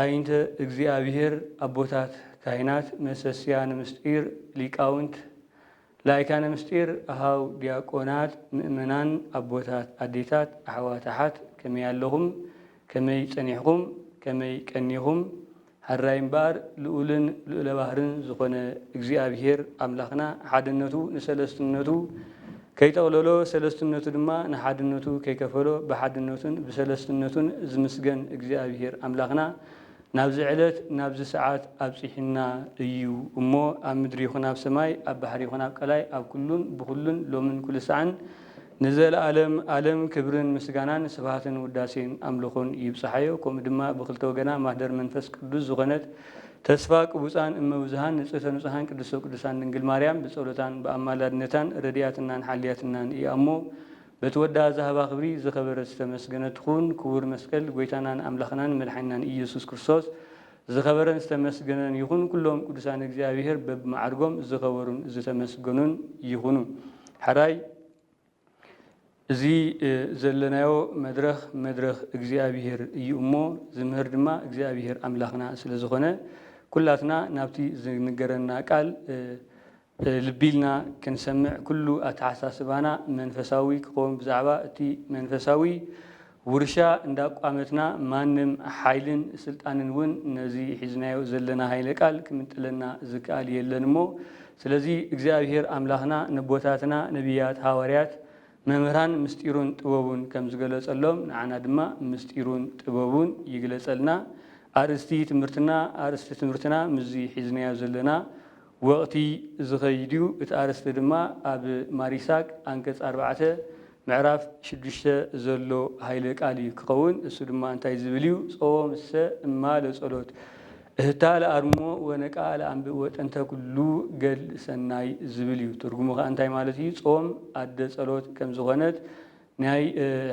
ኣዒንተ እግዚኣብሔር ኣቦታት ካህናት መሰስያነ ምስጢር ሊቃውንት ላይካነ ምስጢር ኣኀው ዲያቆናት ምእመናን ኣቦታት ኣዴታት ኣሕዋት ኣሓት ከመይ ኣለኹም ከመይ ጸኒሕኹም ከመይ ቀኒኹም ኀራይ እምበኣር ልኡልን ልኡለባህርን ዝኾነ እግዚኣብሔር ኣምላኽና ሓድነቱ ንሠለስትነቱ ከይጠቕለሎ ሰለስትነቱ ድማ ንሓድነቱ ከይከፈሎ ብሓድነቱን ብሰለስትነቱን ዝምስገን እግዚኣብሄር ኣምላኽና ናብዚ ዕለት ናብዚ ሰዓት ኣብጺሑና እዩ እሞ ኣብ ምድሪ ይኹን ኣብ ሰማይ ኣብ ባሕሪ ይኹን ኣብ ቀላይ ኣብ ኩሉን ብኹሉን ሎምን ኩልሳዕን ንዘለኣለም ኣለም ክብርን ምስጋናን ስብሃትን ውዳሴን ኣምልኾን ይብጽሓዮ ከምኡ ድማ ብክልተ ወገና ማህደር መንፈስ ቅዱስ ዝኾነት ተስፋ ቅቡጻን እመ ብዙኃን ንጽህተ ንጹኃን ቅድስተ ቅዱሳን ድንግል ማርያም ብጸሎታን ብኣማላድነታን ረዲኣትናን ሓልያትናን ኢያ እሞ በቲ ወዳ ዝሃባ ክብሪ ዝከበረት ዝተመስገነት ትኩን ክቡር መስቀል ጎይታናን ኣምላክናን መድሓኒናን ኢየሱስ ክርስቶስ ዝከበረን ዝተመስገነን ይኩን ኩሎም ቅዱሳን እግዚኣብሔር በብማዓርጎም ዝከበሩን ዝተመስገኑን ይኩኑ ሐራይ እዚ ዘለናዮ መድረኽ መድረኽ እግዚኣብሄር እዩ እሞ ዝምህር ድማ እግዚኣብሄር ኣምላኽና ስለ ዝኾነ ኩላትና ናብቲ ዝንገረና ቃል ልቢ ኢልና ክንሰምዕ ኩሉ ኣተሓሳስባና መንፈሳዊ ክኸውን ብዛዕባ እቲ መንፈሳዊ ውርሻ እንዳቋመትና ማንም ሓይልን ስልጣንን እውን ነዚ ሒዝናዮ ዘለና ሃይለ ቃል ክምንጥለና ዝከኣል የለን እሞ ስለዚ እግዚኣብሄር ኣምላኽና ነቦታትና ነብያት ሃዋርያት መምህራን ምስጢሩን ጥበቡን ከም ዝገለጸሎም ንዓና ድማ ምስጢሩን ጥበቡን ይግለጸልና ኣርእስቲ ትምህርትና ኣርእስቲ ትምህርትና ምስዚ ሒዝናዮ ዘለና ወቕቲ ዝኸይድ እዩ። እቲ ኣርእስቲ ድማ ኣብ ማሪሳግ ኣንቀጽ ኣርባዕተ ምዕራፍ ሽዱሽተ ዘሎ ሃይለ ቃል እዩ ክኸውን። እሱ ድማ እንታይ ዝብል እዩ፣ ጾም እሰ እማ ለጸሎት እህታ ለኣርምሞ ወነቃ ለኣንብእ ወጠንተ ኩሉ ገድል ሰናይ ዝብል እዩ። ትርጉሙ ከኣ እንታይ ማለት እዩ፣ ጾም ኣደ ጸሎት ከም ዝኾነት ናይ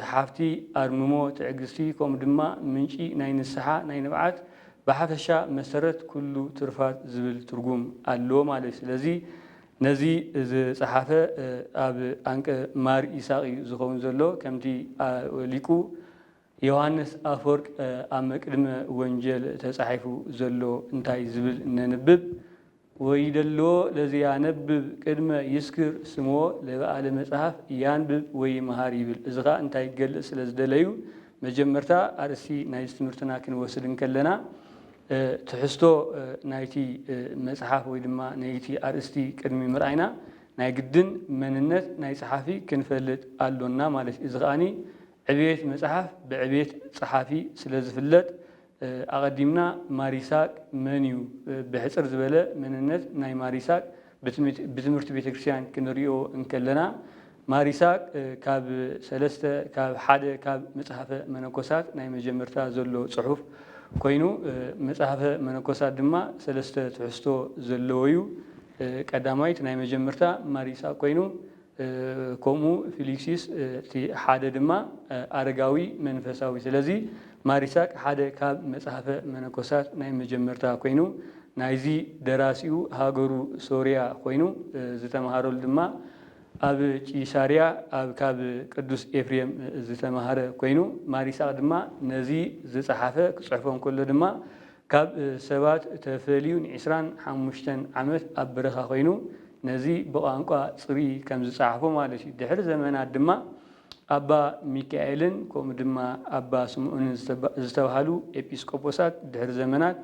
ሓፍቲ ኣርምሞ ትዕግስቲ ከምኡ ድማ ምንጪ ናይ ንስሓ ናይ ንብዓት ብሓፈሻ መሰረት ኩሉ ትሩፋት ዝብል ትርጉም ኣለዎ ማለት እዩ። ስለዚ ነዚ ዝጸሓፈ ኣብ ኣንቀ ማር ይሳቅ እዩ ዝኸውን ዘሎ ከምቲ ሊቁ ዮሃንስ ኣፈወርቅ ኣብ መቅድመ ወንጀል ተጻሒፉ ዘሎ እንታይ ዝብል ነንብብ ወይደሎ ለዚ ያነብብ ቅድመ ይስክር ስሞ ለበኣለ መጽሐፍ ያንብብ ወይምሃር ይብል እዚ ከኣ እንታይ ክገልጽ ስለ ዝደለዩ መጀመርታ ኣርእስቲ ናይዚ ትምህርትና ክንወስድ እንከለና ትሕዝቶ ናይቲ መጽሓፍ ወይ ድማ ነይቲ ኣርእስቲ ቅድሚ ምርኣይና ናይ ግድን መንነት ናይ ጸሓፊ ክንፈልጥ ኣሎና ማለት እዩ እዚ ከኣ ዕብየት መጽሓፍ ብዕብየት ጸሓፊ ስለ ዝፍለጥ፣ ኣቐዲምና ማር ይስሃቅ መን እዩ ብሕጽር ዝበለ መንነት ናይ ማር ይስሃቅ ብትምህርቲ ቤተክርስትያን ክንርእዮ እንከለና፣ ማር ይስሃቅ ካብ ሰለስተ ካብ ሓደ ካብ መጽሐፈ መነኮሳት ናይ መጀመርታ ዘሎ ጽሑፍ ኮይኑ መጽሐፈ መነኮሳት ድማ ሰለስተ ትሕዝቶ ዘለዎዩ ቀዳማይት ናይ መጀመርታ ማር ይስሃቅ ኮይኑ ከምኡ ፊሊክሲስ እቲ ሓደ ድማ ኣረጋዊ መንፈሳዊ ስለዚ ማሪሳቅ ሓደ ካብ መጽሐፈ መነኮሳት ናይ መጀመርታ ኮይኑ ናይዚ ደራሲኡ ሃገሩ ሶርያ ኮይኑ ዝተማሃረሉ ድማ ኣብ ቂሳርያ ኣብ ካብ ቅዱስ ኤፍሬም ዝተማሃረ ኮይኑ ማሪሳቅ ድማ ነዚ ዝጸሓፈ ክጽሕፎ እንከሎ ድማ ካብ ሰባት ተፈልዩ ንዕስራን ሓሙሽተን ዓመት ኣብ በረኻ ኮይኑ ነዚ ብቛንቋ ጽሩይ ከም ዝጸሓፎ ማለት እዩ። ድሕሪ ዘመናት ድማ ኣባ ሚካኤልን ከምኡ ድማ ኣባ ስምኦንን ዝተባህሉ ኤጲስቆጶሳት ድሕሪ ዘመናት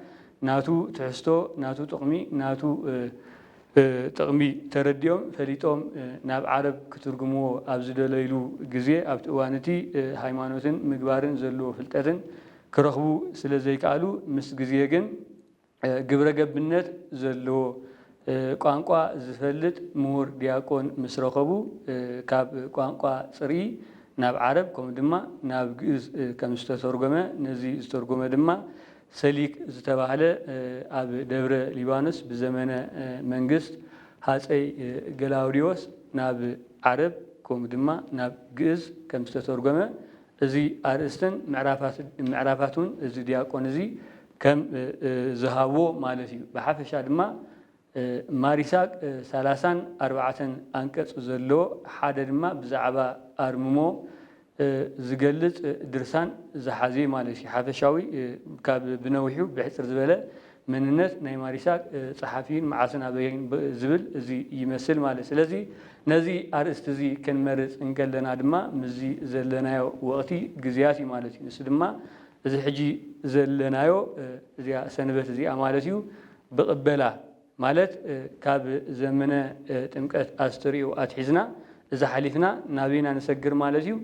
ናቱ ትሕዝቶ ናቱ ጥቕሚ ናቱ ጥቕሚ ተረዲኦም ፈሊጦም ናብ ዓረብ ክትርጉምዎ ኣብ ዝደለይሉ ግዜ ኣብቲ እዋን እቲ ሃይማኖትን ምግባርን ዘለዎ ፍልጠትን ክረኽቡ ስለዘይከኣሉ ምስ ግዜ ግን ግብረ ገብነት ዘለዎ ቋንቋ ዝፈልጥ ምሁር ዲያቆን ምስ ረኸቡ ካብ ቋንቋ ጽርኢ ናብ ዓረብ ከምኡ ድማ ናብ ግእዝ ከም ዝተተርጎመ ነዚ ዝተርጎመ ድማ ሰሊክ ዝተባህለ ኣብ ደብረ ሊባኖስ ብዘመነ መንግስት ሃጸይ ገላውዴዎስ ናብ ዓረብ ከምኡ ድማ ናብ ግእዝ ከም ዝተተርጎመ እዚ ኣርእስትን ምዕራፋቱን እዚ ዲያቆን እዚ ከም ዝሃቦ ማለት እዩ። ብሓፈሻ ድማ ማር ይስሃቅ ሰላሳን ኣርባዕተን ኣንቀጽ ዘለዎ ሓደ ድማ ብዛዕባ ኣርምሞ ዝገልጽ ድርሳን ዝሓዘ እዩ ማለት እዩ። ሓፈሻዊ ካብ ብነዊሑ ብሕጽር ዝበለ መንነት ናይ ማሪሳ ጸሓፊን መዓስን ኣበይን ዝብል እዚ ይመስል ማለት ስለዚ ነዚ ኣርእስቲ እዚ ክንመርጽ እንከለና ድማ ምስዚ ዘለናዮ ወቕቲ ግዝያት እዩ ማለት እዩ ንሱ ድማ እዚ ሕጂ ዘለናዮ እዚኣ ሰንበት እዚኣ ማለት እዩ ብቕበላ ማለት ካብ ዘመነ ጥምቀት ኣስተርእዮ ኣትሒዝና እዚ ሓሊፍና ናበይ ኢና ንሰግር ማለት እዩ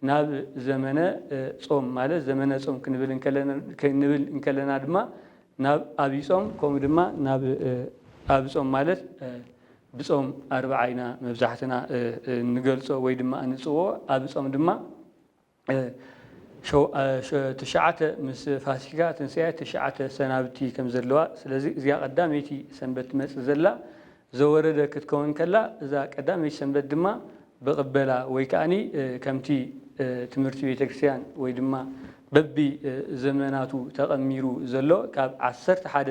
ናብ ዘመነ ጾም ማለት ዘመነ ጾም ክንብል ክንብል እንከለና ድማ ናብ ኣብይ ጾም ከምኡ ድማ ናብ ኣብ ጾም ማለት ብጾም ኣርብዓ ኢና መብዛሕትና እንገልጾ ወይ ድማ እንጽውዖ ኣብ ጾም ድማ ትሽዓተ ምስ ፋሲካ ትንሳኤ ትሽዓተ ሰናብቲ ከም ዘለዋ ስለዚ እዚኣ ቀዳመይቲ ሰንበት ትመጽእ ዘላ ዘወረደ ክትከውን ከላ እዛ ቀዳመይቲ ሰንበት ድማ ብቕበላ ወይ ከኣኒ ከምቲ ትምህርቲ ቤተ ክርስቲያን ወይ ድማ በቢ ዘመናቱ ተቐሚሩ ዘሎ ካብ ዓሰርተ ሓደ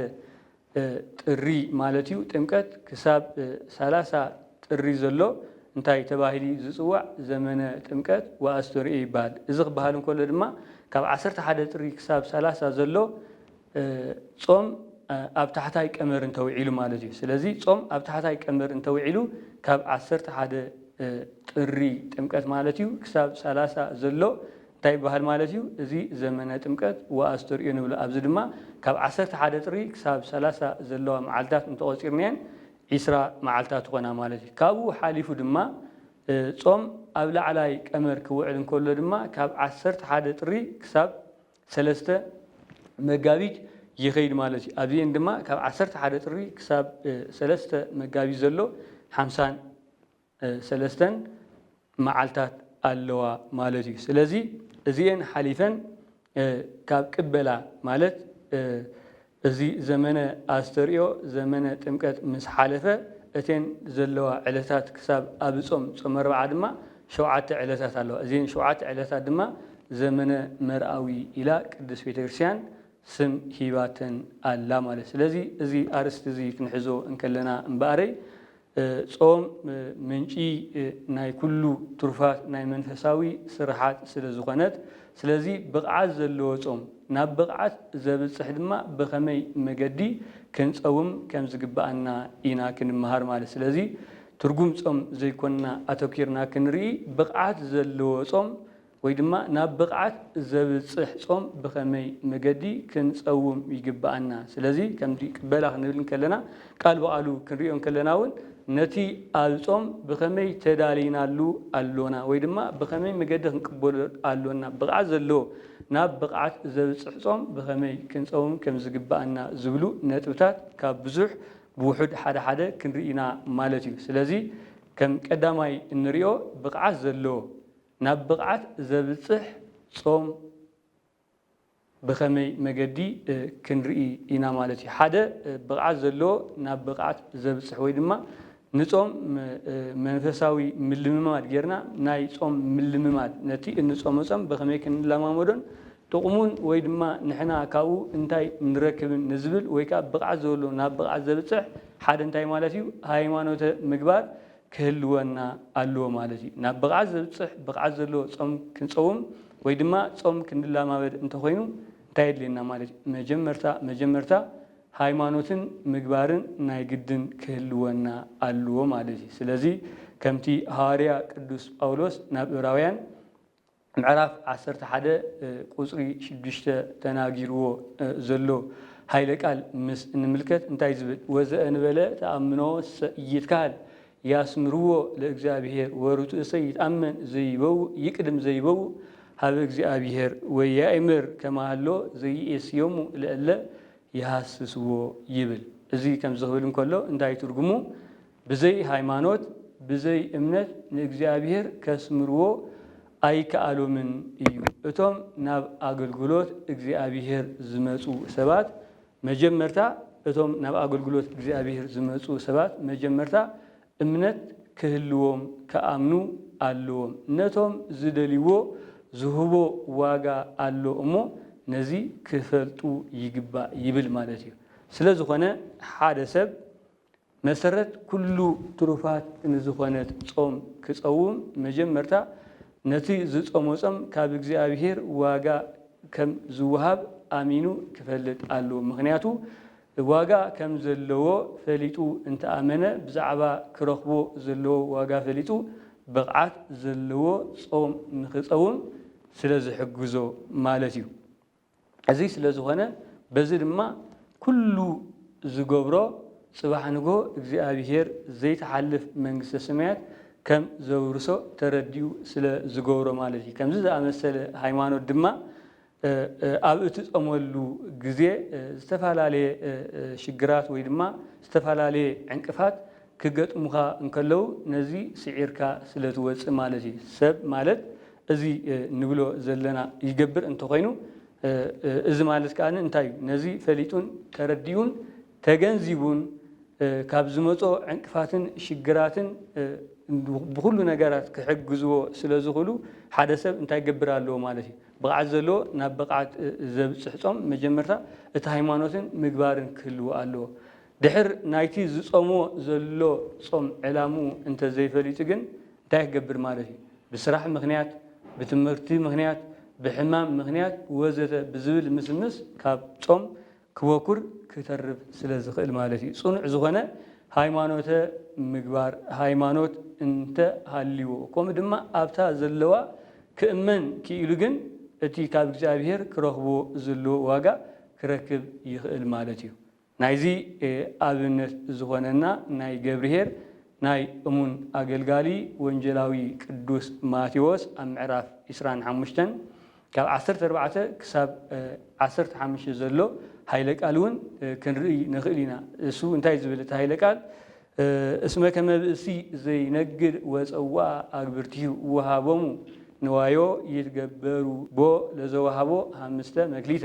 ጥሪ ማለት እዩ ጥምቀት ክሳብ ሰላሳ ጥሪ ዘሎ እንታይ ተባሂሉ እዩ ዝጽዋዕ ዘመነ ጥምቀት ወኣስተርእዮ ይበሃል እዚ ክበሃል እንከሎ ድማ ካብ ዓሰርተ ሓደ ጥሪ ክሳብ ሰላሳ ዘሎ ጾም ኣብ ታሕታይ ቀመር እንተውዒሉ ማለት እዩ። ስለዚ ጾም ኣብ ታሕታይ ቀመር እንተውዒሉ ካብ ዓሰርተ ሓደ ጥሪ ጥምቀት ማለት እዩ ክሳብ ሰላሳ ዘሎ እንታይ ይበሃል ማለት እዩ? እዚ ዘመነ ጥምቀት ወኣስተርእዮ ንብሎ። ኣብዚ ድማ ካብ ዓሰርተ ሓደ ጥሪ ክሳብ ሰላሳ ዘለዋ መዓልታት እንተቖጺርናየን ዕስራ መዓልታት ይኾና ማለት እዩ። ካብኡ ሓሊፉ ድማ ጾም ኣብ ላዕላይ ቀመር ክውዕል እንከሎ ድማ ካብ ዓሰርተ ሓደ ጥሪ ክሳብ ሰለስተ መጋቢት ይኸይድ ማለት እዩ። ኣብዚኤን ድማ ካብ ዓሰርተ ሓደ ጥሪ ክሳብ ሰለስተ መጋቢት ዘሎ ሓምሳን ሰለስተን መዓልታት ኣለዋ ማለት እዩ። ስለዚ እዚኤን ሓሊፈን ካብ ቅበላ ማለት እዚ ዘመነ ኣስተርእዮ ዘመነ ጥምቀት ምስ ሓለፈ እተን ዘለዋ ዕለታት ክሳብ ኣብ ጾም ጾመ ኣርብዓ ድማ ሸውዓተ ዕለታት ኣለዋ። እዘን ሸውዓተ ዕለታት ድማ ዘመነ መርኣዊ ኢላ ቅድስት ቤተ ክርስቲያን ስም ሂባተን ኣላ ማለት እዩ። ስለዚ እዚ ኣርእስቲ እዚ ክንሕዞ እንከለና እምበኣረይ ጾም ምንጪ ናይ ኩሉ ትሩፋት ናይ መንፈሳዊ ስርሓት ስለ ዝኾነት ስለዚ ብቕዓት ዘለዎ ጾም ናብ ብቕዓት ዘብጽሕ ድማ ብኸመይ መገዲ ክንጸውም ከም ዝግብኣና ኢና ክንመሃር ማለት ስለዚ ትርጉም ጾም ዘይኮንና ኣተኪርና ክንርኢ ብቕዓት ዘለዎ ጾም ወይ ድማ ናብ ብቕዓት ዘብጽሕ ጾም ብኸመይ መገዲ ክንጸውም ይግብኣና? ስለዚ ከምዚ ቅበላ ክንብል እንከለና ቃል ብቓሉ ክንርእዮ እንከለና ውን ነቲ ኣብ ጾም ብኸመይ ተዳሊናሉ ኣሎና ወይ ድማ ብኸመይ መገዲ ክንቅበሎ ኣሎና ብቕዓት ዘለዎ ናብ ብቕዓት ዘብጽሕ ጾም ብኸመይ ክንጸውም ከም ዝግብኣና ዝብሉ ነጥብታት ካብ ብዙሕ ብውሑድ ሓደ ሓደ ክንርኢ ኢና ማለት እዩ። ስለዚ ከም ቀዳማይ እንርእዮ ብቕዓት ዘለዎ ናብ ብቕዓት ዘብጽሕ ጾም ብኸመይ መገዲ ክንርኢ ኢና ማለት እዩ? ሓደ ብቕዓት ዘለዎ ናብ ብቕዓት ዘብጽሕ ወይ ድማ ንጾም መንፈሳዊ ምልምማድ ጌርና ናይ ጾም ምልምማድ ነቲ እንጾሞ ጾም ብኸመይ ክንለማመዶን ጥቕሙን ወይ ድማ ንሕና ካብኡ እንታይ ንረክብን ንዝብል ወይ ከኣ ብቕዓት ዘበሎ ናብ ብቕዓት ዘብጽሕ ሓደ እንታይ ማለት እዩ? ሃይማኖተ ምግባር ክህልወና ኣለዎ ማለት እዩ። ናብ ብቕዓት ዘብጽሕ ብቕዓት ዘለዎ ጾም ክንጸውም ወይ ድማ ጾም ክንላማመድ እንተኾይኑ እንታይ የድልየና ማለት እዩ? መጀመርታ መጀመርታ ሃይማኖትን ምግባርን ናይ ግድን ክህልወና ኣለዎ ማለት እዩ። ስለዚ ከምቲ ሃዋርያ ቅዱስ ጳውሎስ ናብ እብራውያን፣ ምዕራፍ ዓሰርተ ሓደ ቁጽሪ ሽዱሽተ ተናጊርዎ ዘሎ ሃይለ ቃል ምስ እንምልከት እንታይ ዝብል ወዘእንበለ ተኣምኖ ሰኢይትካሀል ያስምርዎ ለእግዚኣብሔር ወርጡእሰ ይትኣመን ዘይበውእ ይቅድም ዘይበውእ ሀበ እግዚኣብሔር ወያእምር ከመሀሎ ዘይኤስዮሙ ለእለ ይሀስስዎ ይብል እዚ ከምዚ ክብል እንከሎ እንታይ ትርጉሙ ብዘይ ሃይማኖት ብዘይ እምነት ንእግዚኣብሔር ከስምርዎ ኣይከኣሎምን እዩ። እቶም ናብ ኣገልግሎት እግዚኣብሔር ዝመጹ ሰባት መጀመርታ እቶም ናብ ኣገልግሎት እግዚኣብሔር ዝመጹ ሰባት መጀመርታ እምነት ክህልዎም ክኣምኑ ኣሎዎም። ነቶም ዝደልይዎ ዝህቦ ዋጋ ኣሎ እሞ ነዚ ክፈልጡ ይግባእ ይብል ማለት እዩ። ስለዝኾነ ሓደ ሰብ መሰረት ኩሉ ትሩፋት ንዝኾነት ጾም ክጸውም መጀመርታ ነቲ ዝጾሞ ጾም ካብ እግዚኣብሔር ዋጋ ከም ዝወሃብ ኣሚኑ ክፈልጥ ኣለዎ ምኽንያቱ ዋጋ ከም ዘለዎ ፈሊጡ እንተኣመነ ብዛዕባ ክረኽቦ ዘለዎ ዋጋ ፈሊጡ ብቕዓት ዘለዎ ጾም ንኽጸውም ስለ ዝሕግዞ ማለት እዩ። እዚ ስለ ዝኾነ በዚ ድማ ኩሉ ዝገብሮ ጽባሕ ንግሆ እግዚኣብሄር ዘይትሓልፍ መንግስተ ሰማያት ከም ዘውርሶ ተረዲኡ ስለ ዝገብሮ ማለት እዩ። ከምዚ ዝኣመሰለ ሃይማኖት ድማ ኣብ እትጸመሉ ግዜ ዝተፈላለየ ሽግራት ወይ ድማ ዝተፈላለየ ዕንቅፋት ክገጥሙኻ እንከለዉ ነዚ ስዒርካ ስለ ትወጽእ ማለት እዩ። ሰብ ማለት እዚ ንብሎ ዘለና ይገብር እንተኾይኑ እዚ ማለት ከኣ እንታይ እዩ? ነዚ ፈሊጡን ተረዲኡን ተገንዚቡን ካብ ዝመጾ ዕንቅፋትን ሽግራትን ብኹሉ ነገራት ክሕግዝዎ ስለ ዝኽእሉ ሓደ ሰብ እንታይ ክገብር ኣለዎ ማለት እዩ? ብቕዓት ዘለዎ ናብ ብቕዓት ዘብጽሕ ጾም መጀመርታ እቲ ሃይማኖትን ምግባርን ክህልዎ ኣለዎ። ድሕር ናይቲ ዝጾምዎ ዘሎ ጾም ዕላምኡ እንተዘይፈሊጡ ግን እንታይ ክገብር ማለት እዩ? ብስራሕ ምኽንያት፣ ብትምህርቲ ምኽንያት፣ ብሕማም ምኽንያት ወዘተ ብዝብል ምስምስ ካብ ጾም ክበኩር፣ ክተርፍ፣ ስለ ዝኽእል ማለት እዩ። ጽኑዕ ዝኾነ ሃይማኖተ ምግባር፣ ሃይማኖት፣ እንተ ሃልይዎ፣ ከምኡ ድማ ኣብታ ዘለዋ ክእመን ክኢሉ ግን እቲ ካብ እግዚኣብሔር ክረኽቦ ዘለዎ ዋጋ ክረክብ ይኽእል ማለት እዩ። ናይዚ ኣብነት ዝኾነና ናይ ገብርኄር ናይ እሙን ኣገልጋሊ ወንጌላዊ ቅዱስ ማቴዎስ ኣብ ምዕራፍ ዕስራን ሓሙሽተን ካብ ዓሰርተ ኣርባዕተ ክሳብ ዓሰርተ ሓሙሽተ ዘሎ ኃይለ ቃል እውን ክንርኢ ንኽእል ኢና። እሱ እንታይ ዝብል እቲ ኃይለ ቃል እስመ ከመ ብእሲ ዘይነግድ ወጸውአ ኣግብርቲሁ ወሃቦሙ ንዋዮ ይትገበሩ ቦ ለዘወሃቦ ኃምስተ መክሊተ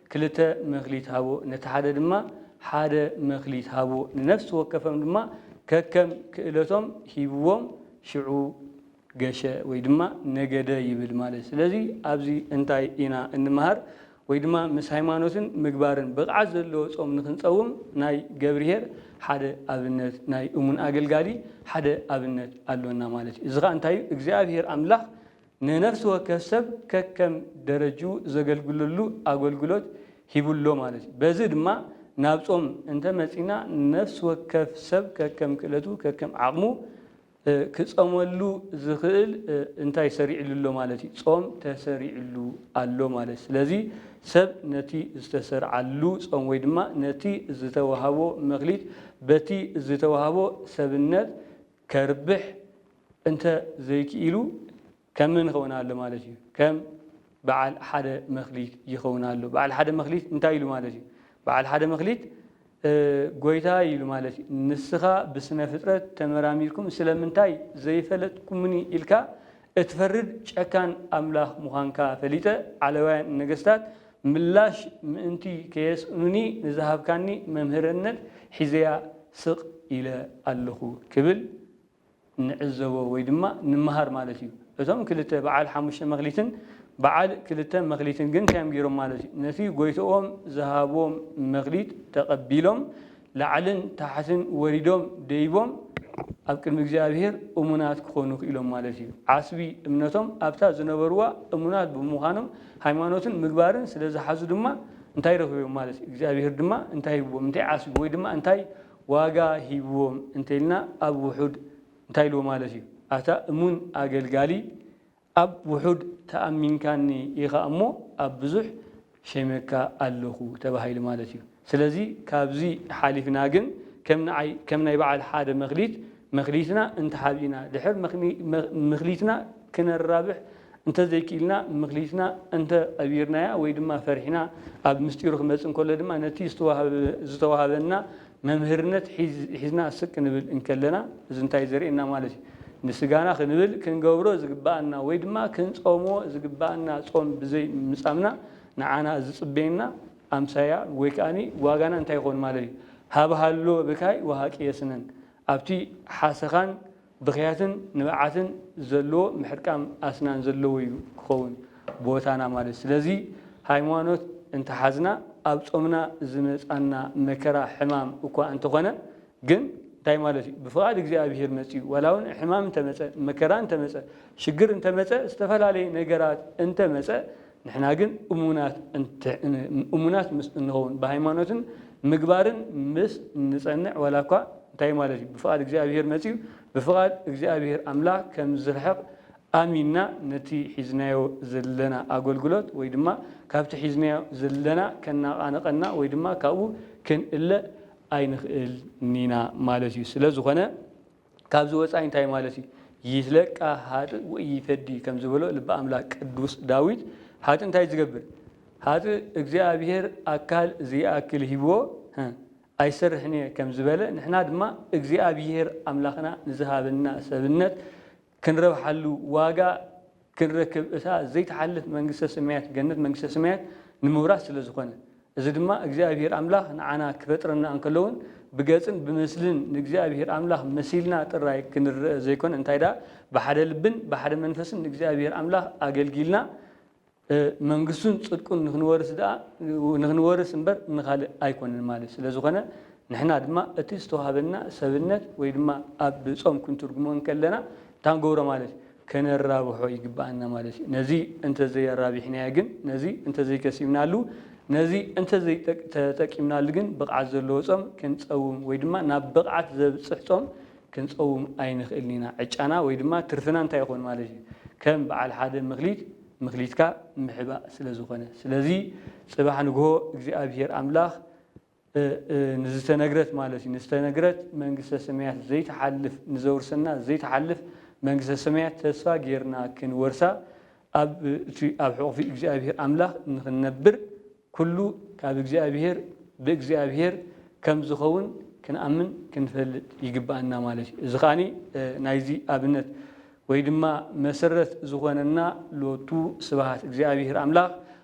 ክልተ መክሊት ሃቡ፣ ነቲ ሓደ ድማ ሓደ መክሊት ሃቡ፣ ንነፍሲ ወከፎም ድማ ከከም ክእለቶም ሂብዎም፣ ሽዑ ገሸ ወይ ድማ ነገደ ይብል ማለት። ስለዚ ኣብዚ እንታይ ኢና እንመሃር ወይ ድማ ምስ ሃይማኖትን ምግባርን ብቕዓት ዘለዎ ጾም ንክንጸውም ናይ ገብርሄር ሓደ ኣብነት ናይ እሙን ኣገልጋሊ ሓደ ኣብነት ኣሎና ማለት እዩ። እዚ ከኣ እንታይ እዩ እግዚኣብሄር ኣምላኽ ንነፍሲ ወከፍ ሰብ ከከም ደረጅኡ ዘገልግለሉ ኣገልግሎት ሂቡ ኣሎ ማለት እዩ። በዚ ድማ ናብ ጾም እንተ መጺእና ነፍሲ ወከፍ ሰብ ከከም ክእለቱ ከከም ዓቕሙ ክጸመሉ ዝኽእል እንታይ ሰሪዕሉ ኣሎ ማለት እዩ፣ ጾም ተሰሪዕሉ ኣሎ ማለት እዩ። ስለዚ ሰብ ነቲ ዝተሰርዓሉ ጾም ወይ ድማ ነቲ ዝተዋህቦ መክሊት በቲ ዝተዋህቦ ሰብነት ከርብሕ እንተ ዘይክኢሉ ከም መን ይኸውን ኣሎ ማለት እዩ? ከም በዓል ሓደ መክሊት ይኸውን ኣሎ። በዓል ሓደ መክሊት እንታይ ኢሉ ማለት እዩ? በዓል ሓደ መክሊት ጎይታይ ኢሉ ማለት እዩ፣ ንስኻ ብስነ ፍጥረት ተመራሚርኩም ስለምንታይ ዘይፈለጥኩምኒ ኢልካ እትፈርድ ጨካን ኣምላኽ ምዃንካ ፈሊጠ ዓለባውያን ነገስታት ምላሽ ምእንቲ ከየስእኑኒ ንዝሃብካኒ መምህርነት ሒዘያ ስቕ ኢለ ኣለኹ ክብል ንዕዘቦ ወይ ድማ ንመሃር ማለት እዩ። እቶም ክልተ በዓል ሓሙሽተ መክሊትን በዓል ክልተ መክሊትን ግን እንታይ እዮም ገይሮም ማለት እዩ? ነቲ ጎይትኦም ዝሃቦም መክሊት ተቐቢሎም ላዕልን ታሕትን ወሪዶም ደይቦም ኣብ ቅድሚ እግዚኣብሄር እሙናት ክኾኑ ክኢሎም ማለት እዩ። ዓስቢ እምነቶም ኣብታ ዝነበርዋ እሙናት ብምዃኖም ሃይማኖትን ምግባርን ስለዝሓዙ ድማ እንታይ ረኺቦም ማለት እዩ? እግዚኣብሄር ድማ እንታይ ሂብዎም? እንታይ ዓስቢ ወይ ድማ እንታይ ዋጋ ሂብዎም እንተኢልና ኣብ ውሑድ እንታይ ኢልዎ ማለት እዩ? ኣታ እሙን ኣገልጋሊ ኣብ ውሑድ ተኣሚንካኒ ኢኻ እሞ ኣብ ብዙሕ ሸይመካ ኣለኹ ተባሂሉ ማለት እዩ። ስለዚ ካብዚ ሓሊፍና ግን ከም ንዓይ ከም ናይ በዓል ሓደ መክሊት መክሊትና እንተሓቢእና ድሕር ምክሊትና ክነራብሕ እንተ ዘይክኢልና ምክሊትና እንተ ቀቢርናያ ወይ ድማ ፈሪሕና ኣብ ምስጢሩ ክመጽእ እንከሎ ድማ ነቲ ዝተዋሃበና መምህርነት ሒዝና ስቅ ክንብል እንከለና እዚ እንታይ ዘርእየና ማለት እዩ ንስጋና ክንብል ክንገብሮ ዝግብኣና ወይ ድማ ክንጾሞ ዝግብኣና ጾም ብዘይ ምጻምና ንዓና ዝጽበየና ኣምሳያ ወይ ከኣ ዋጋና እንታይ ይኸውን ማለት እዩ ሃብሃሎ ብካይ ወሃቂ የስነን ኣብቲ ሓሰኻን ብኽያትን ንብዓትን ዘለዎ ምሕርቃም ኣስናን ዘለዎ እዩ ክኸውን ቦታና ማለት ስለዚ ሃይማኖት እንተሓዝና ኣብ ጾምና ዝመጻና መከራ ሕማም እኳ እንተኾነ ግን እንታይ ማለት እዩ ብፍቓድ እግዚኣብሄር መጺኡ ዋላ ውን ሕማም እንተመጸ መከራ እንተመጸ ሽግር እንተመጸ ዝተፈላለየ ነገራት እንተመጸ ንሕና ግን እሙናት ምስ እንኸውን፣ ብሃይማኖትን ምግባርን ምስ እንጸንዕ፣ ዋላ እኳ እንታይ ማለት እዩ ብፍቓድ እግዚኣብሄር መጺኡ ብፍቓድ እግዚኣብሄር ኣምላኽ ከም ዝርሕቕ ኣሚንና ነቲ ሒዝናዮ ዘለና ኣገልግሎት ወይ ድማ ካብቲ ሒዝናዮ ዘለና ከነቓንቐና ወይ ድማ ካብኡ ክንእለ ኣይንኽእልኒና ማለት እዩ። ስለዝኾነ ካብዚ ወጻኢ እንታይ ማለት እዩ? ይህለቃ ኃጥእ ወኢይፈዲ ከም ዝበሎ ልበ ኣምላክ ቅዱስ ዳዊት ኃጥእ እንታይ እዩ ዝገብር? ኃጥእ እግዚኣብሔር ኣካል ዘይኣክል ሂብዎ ኣይሰርሕን እየ ከም ዝበለ ንሕና ድማ እግዚኣብሔር ኣምላክና ንዝሃበና ሰብነት ክንረብሓሉ ዋጋ ክንረክብ እታ ዘይትሓልፍ መንግስተ ሰማያት፣ ገነት መንግስተ ሰማያት፣ ንምውራስ ስለ ዝኾነ። እዚ ድማ እግዚኣብሄር ኣምላኽ ንዓና ክፈጥረና እንከሎ ውን ብገጽን ብምስልን ንእግዚኣብሄር ኣምላኽ መሲልና ጥራይ ክንረኣ ዘይኮነ እንታይ ደኣ ብሓደ ልብን ብሓደ መንፈስን ንእግዚኣብሄር ኣምላኽ ኣገልጊልና መንግስቱን ጽድቁን ንኽንወርስ ደኣ ንኽንወርስ እምበር ንኻልእ ኣይኮነን ማለት ስለ ዝኾነ ንሕና ድማ እቲ ዝተዋህበና ሰብነት ወይ ድማ ኣብ ጾም ክንትርጉሞ እንከለና እታ ንገብሮ ማለት ከነራብሖ ይግብኣና ማለት እዩ። ነዚ እንተዘይኣራቢሕናዮ ግን፣ ነዚ እንተዘይከሲብናሉ፣ ነዚ እንተዘይተጠቂምናሉ ግን ብቕዓት ዘለዎ ጾም ክንጸውም ወይ ድማ ናብ ብቕዓት ዘብጽሕ ጾም ክንጸውም ኣይንኽእልን ኢና። ዕጫና ወይ ድማ ትርፍና እንታይ ይኾን ማለት እዩ? ከም በዓል ሓደ ምክሊት ምክሊትካ ምሕባእ ስለዝኾነ። ስለዚ ጽባሕ ንግሆ እግዚኣብሄር ኣምላኽ፣ ንዝተነግረት ማለት እዩ ንዝተነግረት መንግስተ ሰማያት ዘይትሓልፍ ንዘውርሰና ዘይትሓልፍ መንግስተ ሰማያት ተስፋ ጌርና ክንወርሳ ኣብ እቲ ኣብ ሕቑፊ እግዚኣብሔር ኣምላኽ ንኽንነብር ኩሉ ካብ እግዚኣብሔር ብእግዚኣብሔር ከም ዝኸውን ክንኣምን ክንፈልጥ ይግብኣና ማለት እዩ እዚ ከኣ ናይዚ ኣብነት ወይ ድማ መሰረት ዝኾነና ሎቱ ስብሃት እግዚኣብሔር ኣምላኽ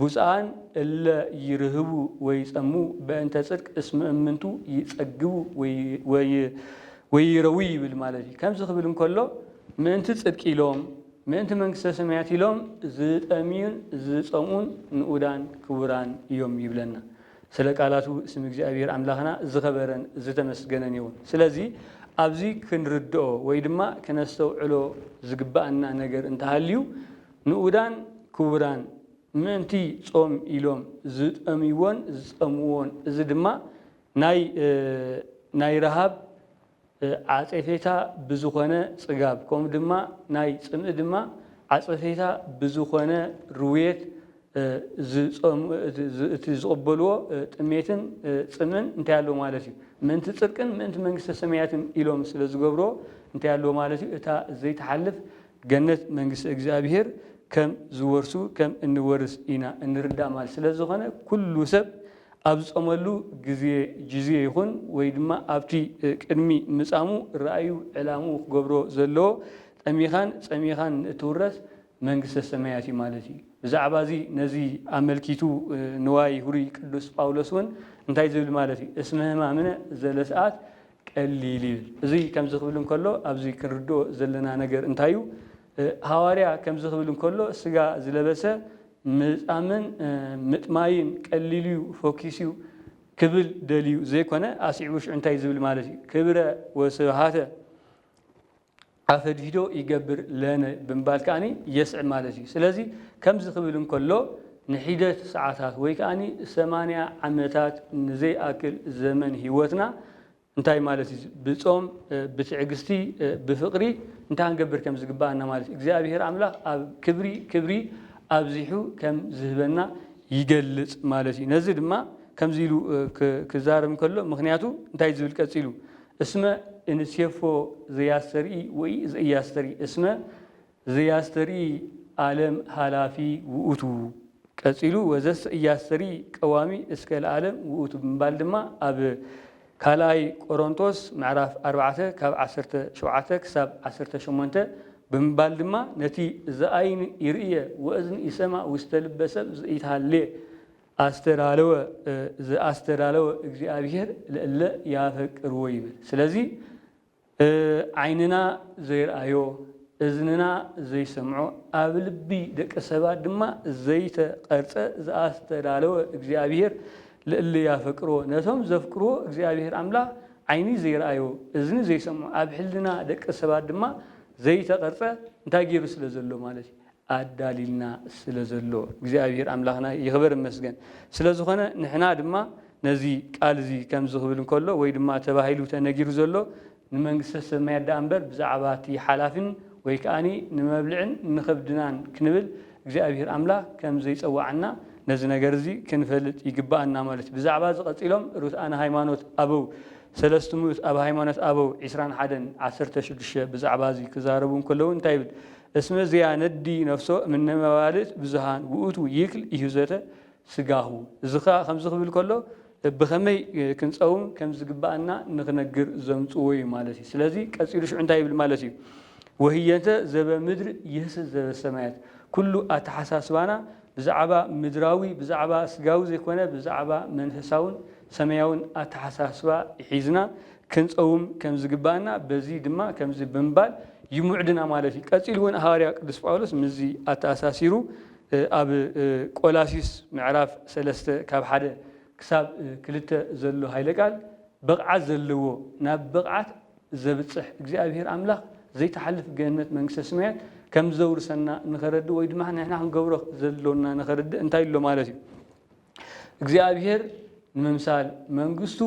ብፁዓን እለ ይርህቡ ወይጸሙ በእንተ ጽድቅ እስመ እምንቱ ይጸግቡ ወይረዊ ይብል ማለት እዩ። ከምዚ ክብል እንከሎ ምእንቲ ጽድቂ ኢሎም ምእንቲ መንግስተ ሰማያት ኢሎም ዝጠምዩን ዝጸምኡን ንኡዳን ክቡራን እዮም ይብለና። ስለ ቃላቱ ስም እግዚኣብሔር ኣምላኽና ዝኸበረን ዝተመስገነን ይኹን። ስለዚ ኣብዚ ክንርድኦ ወይ ድማ ክነስተውዕሎ ዝግበኣና ነገር እንተሃልዩ ንኡዳን ክቡራን፣ ምእንቲ ጾም ኢሎም ዝጠምይዎን ዝጸምዎን፣ እዚ ድማ ናይ ናይ ረሃብ ዓጸፌታ ብዝኾነ ጽጋብ፣ ከምኡ ድማ ናይ ጽምኢ ድማ ዓጸፌታ ብዝኾነ ርውየት፣ እቲ ዝቕበልዎ ጥሜትን ጽምእን እንታይ ኣለዎ ማለት እዩ? ምእንቲ ጽድቅን ምእንቲ መንግስተ ሰማያትን ኢሎም ስለ ዝገብርዎ እንታይ ኣለዎ ማለት እዩ? እታ ዘይትሓልፍ ገነት መንግስተ እግዚኣብሔር ከም ዝወርሱ ከም እንወርስ ኢና እንርዳእ ማለት ስለ ዝኾነ ኩሉ ሰብ ኣብ ዝጾመሉ ግዜ ጅዜ ይኹን ወይ ድማ ኣብቲ ቅድሚ ምጻሙ ራእዩ ዕላምኡ ክገብሮ ዘለዎ ጠሚኻን ጸሚኻን ንእትውረስ መንግስተ ሰማያት እዩ ማለት እዩ። ብዛዕባ እዚ ነዚ ኣመልኪቱ ንዋይ ሁሩይ ቅዱስ ጳውሎስ እውን እንታይ ዝብል ማለት እዩ እስመ ሕማምነ ዘለሰዓት ቀሊል እዩ። እዚ ከምዚ ክብል እንከሎ ኣብዚ ክንርድኦ ዘለና ነገር እንታይ እዩ? ሃዋርያ ከምዚ ክብል እንከሎ ስጋ ዝለበሰ ምጻምን ምጥማይን ቀሊል እዩ፣ ፈኪስ እዩ ክብል ደልዩ ዘይኮነ ኣስዒቡ ሽዑ እንታይ እዩ ዝብል ማለት እዩ ክብረ ወስብሃተ ኣፈድሂዶ ይገብር ለነ ብምባል ከኣ የስዕብ ማለት እዩ። ስለዚ ከምዚ ክብል እንከሎ ንሒደት ሰዓታት ወይ ከኣ ሰማንያ ዓመታት ንዘይኣክል ዘመን ህይወትና እንታይ ማለት እዩ ብጾም ብትዕግስቲ ብፍቕሪ እንታይ ክንገብር ከም ዝግብኣና ማለት እግዚኣብሄር ኣምላኽ ኣብ ክብሪ ክብሪ ኣብዚሑ ከም ዝህበና ይገልጽ ማለት እዩ። ነዚ ድማ ከምዚ ኢሉ ክዛረብ እንከሎ ምኽንያቱ እንታይ ዝብል ቀጺሉ እስመ እንሴፎ ዘያስተርኢ ወኢዘኢያስተርኢ እስመ ዘያስተርኢ ዓለም ኃላፊ ውእቱ ቀጺሉ ወዘሰ ኢያስተርኢ ቀዋሚ እስከ ለዓለም ውእቱ ብምባል ድማ ኣብ ካልኣይ ቆሮንቶስ ምዕራፍ ኣርባዕተ ካብ ዓሰርተ ሸውዓተ ክሳብ ዓሰርተ ሸሞንተ ብምባል ድማ ነቲ ዘኣይን ይርእየ ወእዝን ይሰማ ውስተ ልበ ሰብ ዘኢትሃሌ ኣስተዳለወ ዘኣስተዳለወ እግዚኣብሄር ለእለ ያፈቅርዎ ይብል። ስለዚ ዓይንና ዘይርኣዮ እዝንና ዘይሰምዖ ኣብ ልቢ ደቂ ሰባት ድማ ዘይተቐርጸ ዘኣስተዳለወ እግዚኣብሄር ለእለ ያፈቅርዎ ነቶም ዘፍቅርዎ እግዚኣብሄር ኣምላኽ ዓይኒ ዘይርኣዮ እዝኒ ዘይሰምዖ ኣብ ሕልና ደቂ ሰባት ድማ ዘይተቐርጸ እንታይ ገይሩ ስለ ዘሎ ማለት እዩ ኣዳሊልና ስለ ዘሎ እግዚኣብሄር ኣምላኽና ይኽበር ይመስገን። ስለ ዝኾነ ንሕና ድማ ነዚ ቃል እዚ ከምዚ ክብል እንከሎ ወይ ድማ ተባሂሉ ተነጊሩ ዘሎ ንመንግስተ ሰማያት ደኣ እምበር ብዛዕባ እቲ ሓላፊን ወይ ከኣ ንመብልዕን ንኸብድናን ክንብል እግዚኣብሄር ኣምላኽ ከም ዘይጸወዓና ነዚ ነገር እዚ ክንፈልጥ ይግበኣና ማለት እዩ። ብዛዕባ እዚ ቀጺሎም ርቱዓነ ሃይማኖት ኣበው ሰለስቱ ምኡት ኣብ ሃይማኖት ኣበው ዕስራን ሓደን ዓሰርተ ሽዱሽተ ብዛዕባ እዚ ክዛረቡ እንከለዉ እንታይ ይብል እስመ ዘያነዲ ነፍሶ እምነ መባልት ብዙኃን ውእቱ ይክል ኢሕዞተ ሥጋሁ። እዚ ኸኣ ከምዚ ክብል ከሎ ብኸመይ ክንጸውም ከም ዝግብኣና ንኽነግር ዘምጽዎ እዩ ማለት እዩ። ስለዚ ቀጺሉ ሽዑ እንታይ ይብል ማለት እዩ ወህየንተ ዘበምድር ይህስስ ዘበሰማያት ኩሉ ኣተሓሳስባና ብዛዕባ ምድራዊ ብዛዕባ ስጋዊ ዘይኮነ ብዛዕባ መንፈሳውን ሰማያውን ኣተሓሳስባ ሒዝና ክንጸውም ከም ዝግብኣና በዚ ድማ ከምዚ ብምባል ይምዕድና ማለት እዩ። ቀጺሉ እውን ሃዋርያ ቅዱስ ጳውሎስ ምስዚ ኣተኣሳሲሩ ኣብ ቆላሲስ ምዕራፍ ሰለስተ ካብ ሓደ ክሳብ ክልተ ዘሎ ሃይለ ቃል ብቕዓት ዘለዎ ናብ ብቕዓት ዘብጽሕ እግዚኣብሄር ኣምላኽ ዘይትሓልፍ ገነት መንግስተ ስማያት ከም ዘውርሰና ንኸረድእ ወይ ድማ ንሕና ክንገብሮ ዘሎና ንኸረድእ እንታይ ኣሎ ማለት እዩ እግዚኣብሄር ንምምሳል መንግስቱ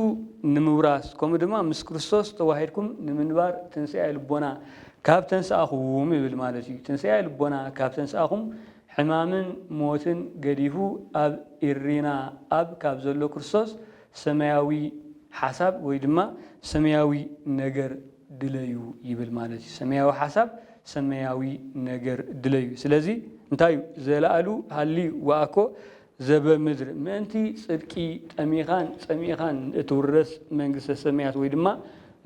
ንምውራስ ከምኡ ድማ ምስ ክርስቶስ ተዋሂድኩም ንምንባር ትንስኤ ልቦና ካብ ተንስኣኹም ይብል ማለት እዩ ትንስኤ ልቦና ካብ ተንስኣኹም ሕማምን ሞትን ገዲፉ ኣብ ኢሪና ኣብ ካብ ዘሎ ክርስቶስ ሰማያዊ ሓሳብ ወይ ድማ ሰማያዊ ነገር ድለዩ ይብል ማለት እዩ። ሰማያዊ ሓሳብ ሰማያዊ ነገር ድለዩ። ስለዚ እንታይ እዩ ዘለኣሉ ሃልዩ ወኣኮ ዘበምድር ምእንቲ ጽድቂ ጠሚኻን ጸሚእኻን እትውረስ መንግስተ ሰማያት ወይ ድማ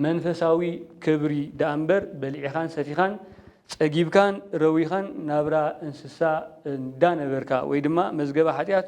መንፈሳዊ ክብሪ ደኣ እምበር በሊዕኻን ሰቲኻን ጸጊብካን ረዊኻን ናብራ እንስሳ እንዳነበርካ ወይ ድማ መዝገበ ሓጢኣት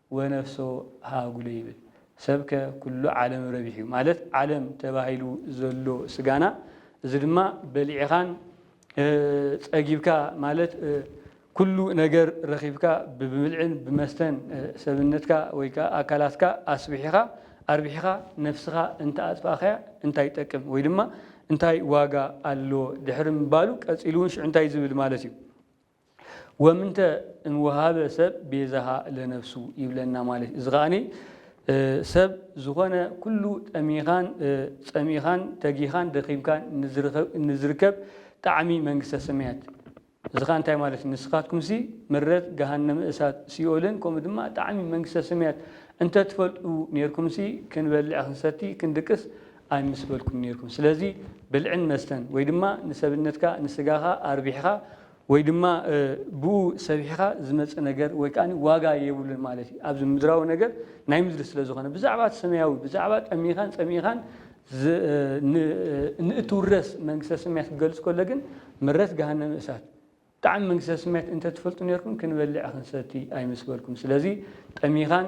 ወነፍሶ ሃጉለ ይብል ሰብ ከ ኩሉ ዓለም ረቢሑ ማለት ዓለም ተባሂሉ ዘሎ ስጋና እዚ ድማ በሊዕኻን ጸጊብካ ማለት ኩሉ ነገር ረኺብካ ብብልዕን ብመስተን ሰብነትካ ወይ ከኣ ኣካላትካ ኣስቢሒኻ ኣርቢሒኻ ነፍስኻ እንተ ኣጥፋእካያ እንታይ ይጠቅም ወይ ድማ እንታይ ዋጋ ኣለዎ ድሕሪ ምባሉ ቀጺሉ ውን ሽዑ እንታይ ዝብል ማለት እዩ ወምንተ እም ወሀበ ሰብ ቤዛሃ ለነፍሱ ይብለና ማለት እዩ። እዚ ከኣ ሰብ ዝኾነ ኩሉ ጠሚኻን ጸሚእኻን ተጊኻን ደኺምካን እንዝርከብ ጣዕሚ መንግስተ ሰማያት እዚ ከኣ እንታይ ማለት እዩ ንስኻትኩምሲ ምረት ገሃነመ እሳት ሲኦልን ከምኡ ድማ ጣዕሚ መንግስተ ሰማያት እንተትፈልጡ ኔርኩምሲ ክንበልዕ ክንሰቲ ክንድቅስ ኣይምስበልኩም ኔርኩም ስለዚ ብልዕን መስተን ወይ ድማ ንሰብነትካ ንስጋኻ ኣርቢሕኻ ወይ ድማ ብኡ ሰቢሕኻ ዝመጽእ ነገር ወይ ከኣ ዋጋ የብሉን ማለት እዩ ኣብዚ ምድራዊ ነገር ናይ ምድሪ ስለ ዝኾነ ብዛዕባ እቲ ሰማያዊ ብዛዕባ ጠሚኻን ጸሚእኻን ንእትውረስ መንግስተ ሰማያት ክገልጽ ከሎ ግን ምረት ገሃነመ እሳት ጣዕሚ መንግስተ ሰማያት እንተትፈልጡ ኔርኩም ክንበልዕ ክንሰቲ ኣይምስበልኩም ስለዚ ጠሚኻን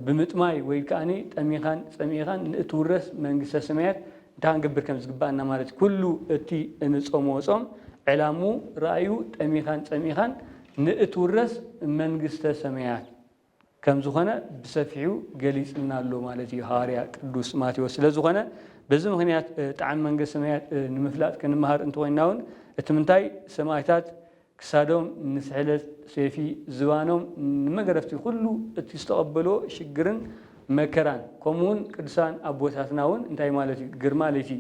ብምጥማይ ወይ ከኣ ጠሚኻን ጸሚኢኻን ንእትውረስ መንግስተ ሰማያት እንታይ ክንገብር ከም ዝግብኣና ማለት እዩ። ኩሉ እቲ እንጾምዎ ጾም ዕላምኡ ራእዩ ጠሚኻን ጸሚኢኻን ንእትውረስ መንግስተ ሰማያት ከም ዝኾነ ብሰፊሑ ገሊጽልና ኣሎ ማለት እዩ ሃዋርያ ቅዱስ ማቴዎስ። ስለ ዝኾነ በዚ ምክንያት ጣዕሚ መንግስተ ሰማያት ንምፍላጥ ክንመሃር እንተኾይንና እውን እቲ ምንታይ ሰማእታት ክሳዶም ንስሕለት ሴፊ ዝባኖም ንመገረፍቲ ኩሉ እቲ ዝተቀበልዎ ሽግርን መከራን ከምኡ ውን ቅዱሳን ኣቦታትና ውን እንታይ ማለት እዩ ግርማ ለይቲ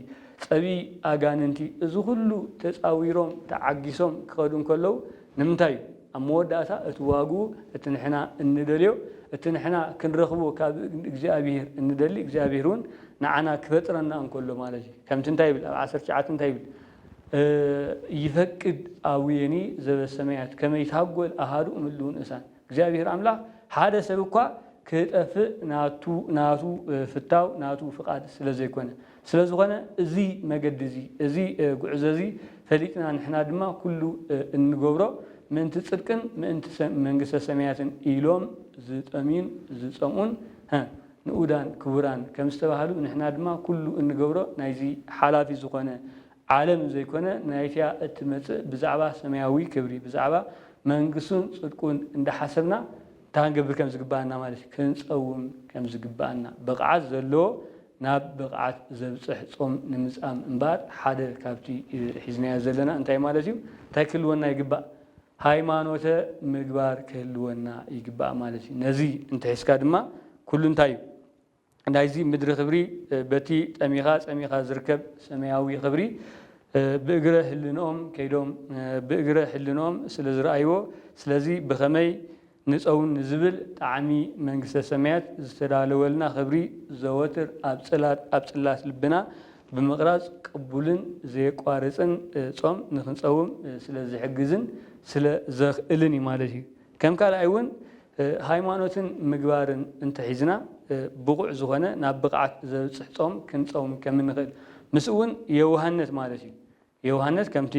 ጸብኢ ኣጋንንቲ እዚ ኩሉ ተጻዊሮም ተዓጊሶም ክከዱ እንከለው ንምንታይ እዩ ኣብ መወዳእታ እቲ ዋግኡ እቲ ንሕና እንደልዮ እቲ ንሕና ክንረክቦ ካብ እግዚኣብሄር እንደሊ እግዚኣብሄር ውን ንዓና ክፈጥረና እንከሎ ማለት እዩ ከምቲ እንታይ ይብል ኣብ ዓሰርተ ትሽዓተ እንታይ ይብል ይፈቅድ ኣቡየኒ ዘበሰማያት ከመ ይትሃጐል ኣሃዱ እምሉ ንእሳን እግዚኣብሔር ኣምላኽ ሓደ ሰብ እኳ ክጠፍእ ናቱ ፍታው ናቱ ፍቓድ ስለ ዘይኮነ ስለ ዝኾነ እዚ መገዲ እዚ እዚ ጉዕዞ እዚ ፈሊጥና ንሕና ድማ ኩሉ እንገብሮ ምእንቲ ጽድቅን ምእንቲ መንግስተ ሰማያትን ኢሎም ዝጠምዩን ዝጸምኡን ንኡዳን ክቡራን ከም ዝተባህሉ ንሕና ድማ ኩሉ እንገብሮ ናይዚ ሓላፊ ዝኾነ ዓለም ዘይኮነ ናይቲኣ እትመጽእ ብዛዕባ ሰማያዊ ክብሪ ብዛዕባ መንግስቱን ጽድቁን እንዳሓሰብና እንታይ ክንገብር ከም ዝግብኣና ማለት እዩ ክንጸውም ከም ዝግብኣና ብቕዓት ዘለዎ ናብ ብቕዓት ዘብጽሕ ጾም ንምጻም እምበኣር ሓደ ካብቲ ሒዝናዮ ዘለና እንታይ ማለት እዩ እንታይ ክህልወና ይግባእ ሃይማኖተ ምግባር ክህልወና ይግባእ ማለት እዩ። ነዚ እንተሒዝካ ድማ ኩሉ እንታይ እዩ ናይዚ ምድሪ ክብሪ በቲ ጠሚኻ ጸሚኻ ዝርከብ ሰማያዊ ክብሪ ብእግረ ህልንኦም ከይዶም ብእግረ ሕልንኦም ስለ ዝረኣይዎ ስለዚ ብኸመይ ንጸውን ንዝብል ጣዕሚ መንግስተ ሰማያት ዝተዳለወልና ክብሪ ዘወትር ኣብ ጽላት ኣብ ጽላት ልብና ብምቕራጽ ቅቡልን ዘየቋርጽን ጾም ንኽንጸውም ስለ ዝሕግዝን ስለ ዘኽእልን እዩ ማለት እዩ። ከም ካልኣይ እውን ሃይማኖትን ምግባርን እንተሒዝና ብቑዕ ዝኾነ ናብ ብቕዓት ዘብጽሕ ጾም ክንጸውም ከም እንኽእል ምስኡ እውን የውሃነት ማለት እዩ። ዮውሃንስ ከምቲ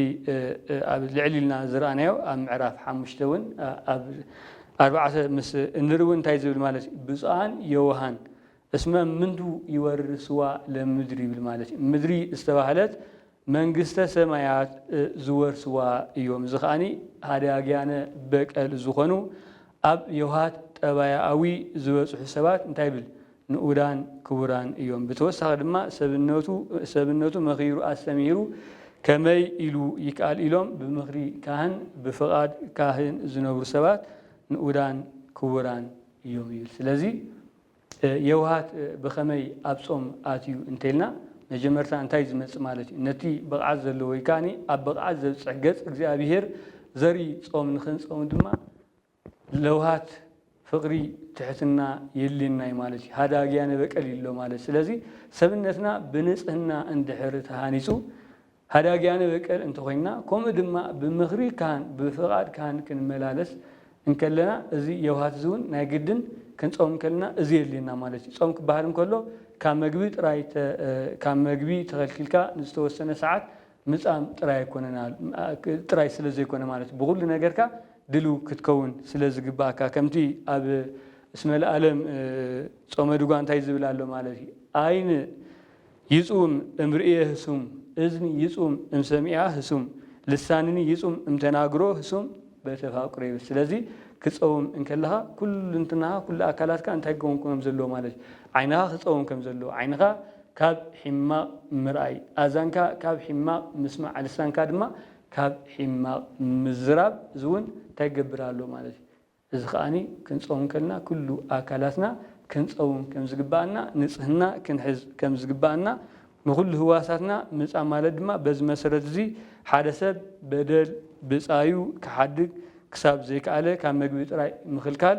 ኣብ ልዕል ኢልና ዝረኣናዮ ኣብ ምዕራፍ ሓሙሽተ ውን ኣብ ኣርባዕተ ምስ እንርኢ ውን እንታይ ዝብል ማለት እዩ ብጹኣን ዮውሃን እስመ ምንቱ ይወርስዋ ለምድር ይብል ማለት እዩ ምድሪ ዝተባህለት መንግስተ ሰማያት ዝወርስዋ እዮም እዚ ከኣ ሃዳግያነ በቀል ዝኾኑ ኣብ የውሃት ጠባያኣዊ ዝበጽሑ ሰባት እንታይ ይብል ንኡዳን ክቡራን እዮም። ብተወሳኺ ድማ ሰብነቱ ሰብነቱ መኺሩ ኣስተምሂሩ ከመይ ኢሉ ይከኣል ኢሎም ብምኽሪ ካህን ብፍቓድ ካህን ዝነብሩ ሰባት ንኡዳን ክቡራን እዮም ይብል። ስለዚ የውሃት ብኸመይ ኣብ ጾም ኣትዩ እንተልና መጀመርታ እንታይ ዝመጽእ ማለት እዩ ነቲ ብቕዓት ዘለዎ ወይ ከኣ ኣብ ብቕዓት ዘብጽሕ ገጽ እግዚኣብሄር ዘርኢ ጾም ንኽንጸውም ድማ ለውሃት ፍቅሪ ትሕትና የልናይ ማለት እዩ ሃዳግያነ በቀል ይሎ ማለት ስለዚ ሰብነትና ብንጽህና እንድሕር ተሃኒጹ ሃዳግያነ በቀል እንተኾይንና ኮምኡ ድማ ብምኽሪ ካህን ብፍቃድ ካህን ክንመላለስ እንከለና እዚ የውሃት እዚ ውን ናይ ግድን ክንጾም እንከለና እዚ የድልየና ማለት እዩ ጾም ክበሃል እንከሎ ካብ መግቢ ጥራይ ካብ መግቢ ተኸልኪልካ ንዝተወሰነ ሰዓት ምጻም ጥራይ ኣይኮነን ጥራይ ስለ ዘይኮነ ማለት እዩ ብኹሉ ነገርካ ድልው ክትከውን ስለ ዝግብኣካ ከምቲ ኣብ እስመ ለዓለም ጾመ ድጓ እንታይ ዝብል ኣሎ ማለት እዩ ዓይን ይጹም እምርእየ ህሱም እዝኒ ይጹም እምሰሚኣ ህሱም ልሳንኒ ይጹም እምተናግሮ ህሱም በተፋቅሮ ይብል ስለዚ ክጸውም እንከለኻ ኩሉ እንትናኻ ኩሉ ኣካላትካ እንታይ ክኸውን ከም ዘለዎ ማለት እዩ ዓይንኻ ክጸውም ከም ዘለዎ ዓይንኻ ካብ ሒማቕ ምርኣይ ኣእዛንካ ካብ ሒማቕ ምስማዕ ልሳንካ ድማ ካብ ሒማቕ ምዝራብ እዚ ውን ታይ ክገብር ኣለዎ ማለት እዩ እዚ ከኣ ክንጸውም ከለና ኩሉ ኣካላትና ክንጸውም ከም ዝግበኣና ንጽህና ክንሕዝ ከም ዝግበኣና ንኹሉ ህዋሳትና ምጻም ማለት ድማ በዚ መሰረት እዚ ሓደ ሰብ በደል ብጻዩ ክሓድግ ክሳብ ዘይከኣለ ካብ መግቢ ጥራይ ምኽልካል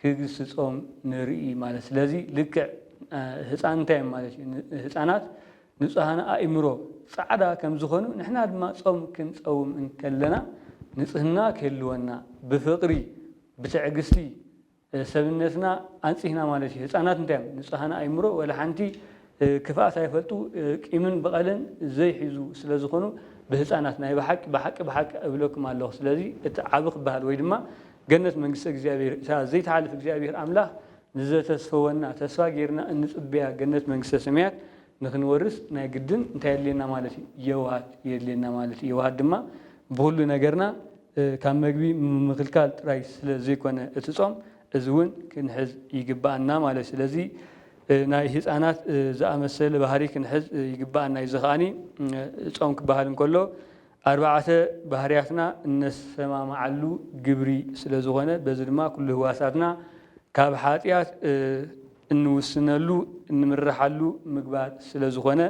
ክግስጾም ንርኢ ማለት ስለዚ ልክዕ ህጻን እንታይ እዮም ማለት እዩ ህጻናት ንጹሃን ኣእምሮ ጻዕዳ ከም ዝኾኑ ንሕና ድማ ጾም ክንጸውም እንከለና ንጽህና ክህልወና ብፍቕሪ ብትዕግስቲ ሰብነትና ኣንጺህና ማለት እዩ ህጻናት እንታይ እዮም ንጹሃን ኣእምሮ ወላ ሓንቲ ክፍኣት ኣይፈልጡ ቂምን በቐልን ዘይሕዙ ስለ ዝኾኑ ብህጻናት ናይ ብሓቂ ብሓቂ ብሓቂ እብለኩም ኣለኹ ስለዚ እቲ ዓቢ ክብሃል ወይ ድማ ገነት መንግስተ እግዚኣብሔር እታ ዘይትሓልፍ እግዚኣብሔር ኣምላኽ ንዘተስፈወና ተስፋ ጌርና እንጽበያ ገነት መንግስተ ሰማያት ንኽንወርስ ናይ ግድን እንታይ የድልየና ማለት እዩ የውሃት የድልየና ማለት እዩ የውሃት ድማ ብኹሉ ነገርና ካብ መግቢ ምኽልካል ጥራይ ስለ ዘይኮነ እቲ ጾም እዚ እውን ክንሕዝ ይግብኣና ማለት ስለዚ ናይ ህጻናት ዝኣመሰለ ባህርይ ክንሕዝ ይግበኣና እዩ። እዚ ከኣ ጾም ክበሃል እንከሎ ኣርባዕተ ባህርያትና እነሰማምዓሉ ግብሪ ስለ ዝኾነ በዚ ድማ ኩሉ ህዋሳትና ካብ ሓጥያት እንውስነሉ እንምረሓሉ ምግባር ስለ ዝኾነ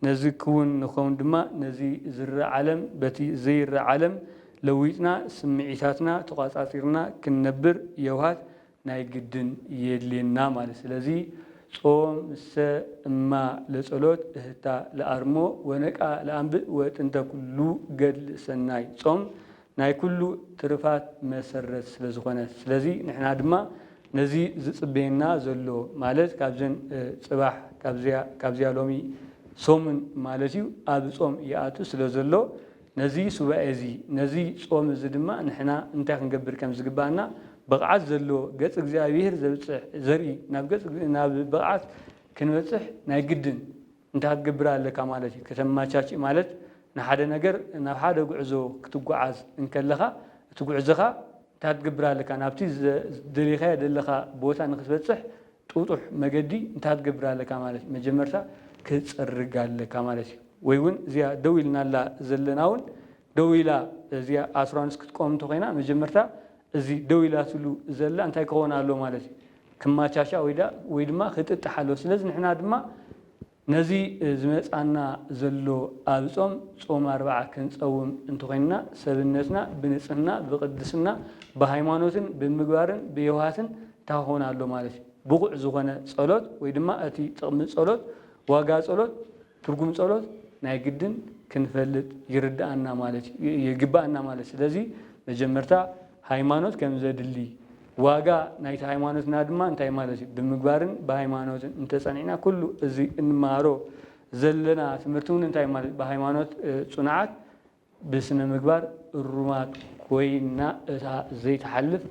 ነዚ ክውን ንክኸውን ድማ ነዚ ዝረእ ዓለም በቲ ዘይረእ ዓለም ለዊጥና ስምዒታትና ተቋጻጺርና ክንነብር የውሃት ናይ ግድን የድልየና ማለት ስለዚ ጾም ምሰ እማ ለጸሎት እህታ ለኣርሞ ወነቃ ለኣንብእ ወጥንተ ኩሉ ገድል ሰናይ ጾም ናይ ኩሉ ትርፋት መሰረት ስለዝኾነ ስለዚ ንሕና ድማ ነዚ ዝጽበየና ዘሎ ማለት ካብዘን ጽባሕ ካብዚያ ሎሚ ሰሙን ማለት እዩ ኣብ ጾም ይኣቱ ስለዘሎ ነዚ ሱባኤ እዚ ነዚ ጾም እዚ ድማ ንሕና እንታይ ክንገብር ከም ዝግብኣና ብቕዓት ዘለዎ ገጽ እግዚኣብሄር ዘብጽሕ ዘርኢ ናብ ገጽ ናብ ብቕዓት ክንበጽሕ ናይ ግድን እንታይ ክትገብር ኣለካ ማለት እዩ ከተመቻችእ ማለት ንሓደ ነገር ናብ ሓደ ጉዕዞ ክትጉዓዝ እንከለኻ እቲ ጉዕዞኻ እንታይ ክትገብር ኣለካ ናብቲ ዝደለኻዮ ዘለኻ ቦታ ንክትበጽሕ ጥጡሕ መገዲ እንታይ ትገብር ኣለካ ማለት እዩ መጀመርታ ክትጽርግ ኣለካ ማለት እዩ ወይ ውን እዚኣ ደው ኢልናላ ዘለና ውን ደው ኢላ እዚኣ ኣሱራንስ ክትቆም እንተኮይና መጀመርታ እዚ ደው ኢላትሉ ዘላ እንታይ ክኮን ኣለዎ ማለት እዩ ክማቻቻ ወይ ድኣ ወይ ድማ ክጥጥሕ ኣለዎ ስለዚ ንሕና ድማ ነዚ ዝመጽኣና ዘሎ ኣብ ጾም ጾም ኣርብዓ ክንጸውም እንተኾይንና ሰብነትና ብንጽህና ብቅድስና ብሃይማኖትን ብምግባርን ብየውሃትን እንታይ ክኸውን ኣሎ ማለት እዩ ብቑዕ ዝኾነ ጸሎት ወይ ድማ እቲ ጥቕሚ ጸሎት ዋጋ ጸሎት ትርጉም ጸሎት ናይ ግድን ክንፈልጥ ይርድኣና ማለት ይግብኣና ማለት ስለዚ መጀመርታ ሃይማኖት ከምዘድሊ ዋጋ ናይቲ ሃይማኖትና ድማ እንታይ ማለት እዩ ብምግባርን ብሃይማኖትን እንተጸኒዕና ኩሉ እዚ እንመሃሮ ዘለና ትምህርቲ እውን እንታይ ማለት እዩ ብሃይማኖት ጽኑዓት ብስነ ምግባር እሩማት ኮይና እታ ዘይትሓልፍ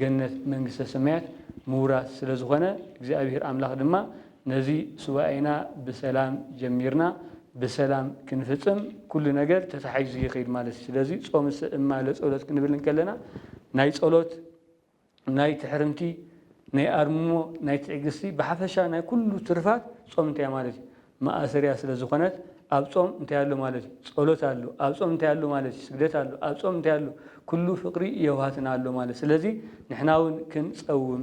ገነት መንግስተ ሰማያት ምውራስ ስለዝኾነ እግዚኣብሔር ኣምላኽ ድማ ነዚ ሱባኤና ብሰላም ጀሚርና ብሰላም ክንፍጽም ኩሉ ነገር ተታሒዙ ይኺድ ማለት እዩ። ስለዚ ጾም እማለ ጸሎት ክንብል እንከለና ናይ ጸሎት ናይ ትሕርምቲ ናይ ኣርምሞ ናይ ትዕግስቲ ብሓፈሻ ናይ ኩሉ ትርፋት ጾም እንታይ ማለት እዩ መኣሰሪያ ስለ ዝኾነት ኣብ ጾም እንታይ ኣሎ ማለት እዩ ጸሎት ኣሎ ኣብ ጾም እንታይ ኣሎ ማለት እዩ ስግደት ኣሎ ኣብ ጾም እንታይ ኣሎ ኩሉ ፍቅሪ የውሃትና ኣሎ ማለት ስለዚ ንሕና እውን ክንጸውም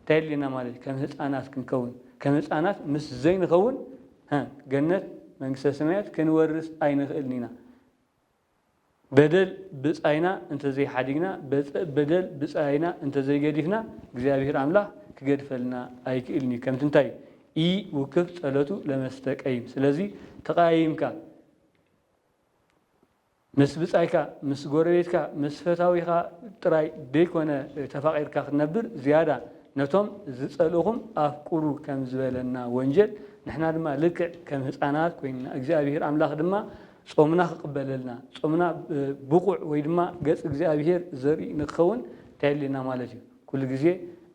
እንታይ የድልየና ማለት እዩ? ከም ህጻናት ክንከውን፣ ከም ህጻናት ምስ ዘይንኸውን ገነት መንግስተ ሰማያት ክንወርስ ኣይንኽእልን ኢና። በደል ብጻይና እንተዘይሓዲግና፣ በደል ብጻይና እንተዘይገዲፍና እግዚኣብሔር ኣምላኽ ክገድፈልና ኣይክእልን እዩ። ከምቲ እንታይ ኢ ውክፍ ጸሎቱ ለመስተቀይም ስለዚ ተቀያይምካ ምስ ብጻይካ፣ ምስ ጎረቤትካ፣ ምስ ፈታዊኻ ጥራይ ደይኮነ ተፋቒርካ ክትነብር ዝያዳ ነቶም ዝጸልእኹም ኣፍቅሩ ከም ዝበለና ወንጀል ንሕና ድማ ልክዕ ከም ህጻናት ኮይንና እግዚኣብሄር ኣምላኽ ድማ ጾምና ክቕበለልና ጾምና ብቑዕ ወይ ድማ ገጽ እግዚኣብሄር ዘርኢ ንክኸውን እንታይ የድልየና ማለት እዩ ኩሉ ግዜ